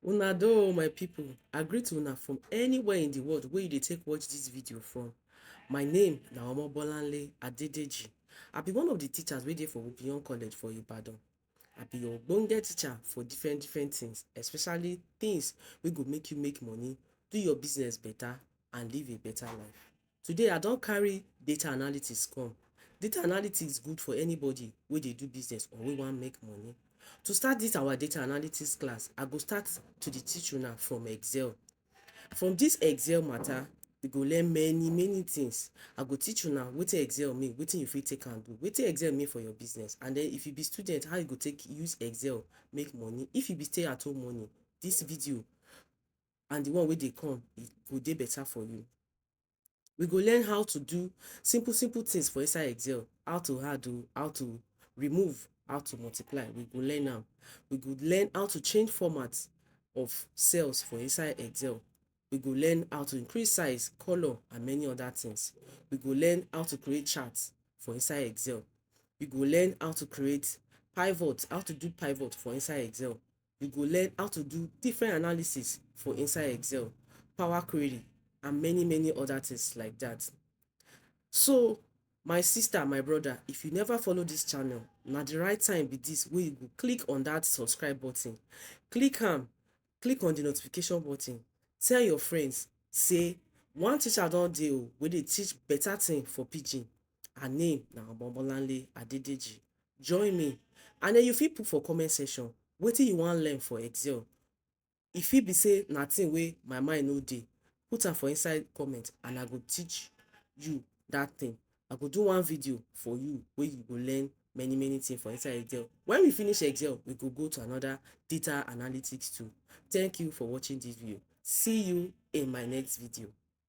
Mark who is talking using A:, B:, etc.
A: Una do oh my people, I greet una from anywhere in the world wey you dey take watch this video from. My name na Omobolanle Adedeji. I be one of the teachers wey dey for Obion College for Ibadan. I be your ogbonge teacher for different different things, especially things wey go make you make money, do your business better and live a better life. Today I don carry data analytics come. Data analytics good for anybody wey dey do business or wey wan make money. To start dis our data analytics class, I go start to dey teach una from Excel. From dis Excel matter, you go learn many many things. I go teach una wetin Excel mean, wetin you fit take am do, wetin Excel mean for your business and den if you be student, how you go take use Excel make money. If you be stay at home mummy, dis video and the one wey dey come, e go dey better for you. We go learn how to do simple simple things for inside Excel, how to add o, how to remove, how to multiply, we go learn am. We go learn how to change format of cells for inside Excel. We go learn how to increase size, colour and many other things. We go learn how to create chart for inside Excel. We go learn how to create pivot, how to do pivot for inside Excel. we go learn how to do different analysis for inside Excel, Power Query, and many, many other things like that. So, my sister, my brother, if you never follow this channel, now the right time be this where you go click on that subscribe button. Click on, click on the notification button. Tell your friends, say, one teacher don't deal oh, where they teach better thing for pigeon. her name na Omobolanle Adedeji. Join me and den you fit put for comment section wetin you wan learn for Excel, e fit be sey na thing wey my mind no dey, put am for inside comment and I go teach you dat thing, I go do one video for you wey you go learn many many things for inside Excel. Wen we finish Excel, we go go to another data analytics tool. Thank you for watching dis video, see you in my next video.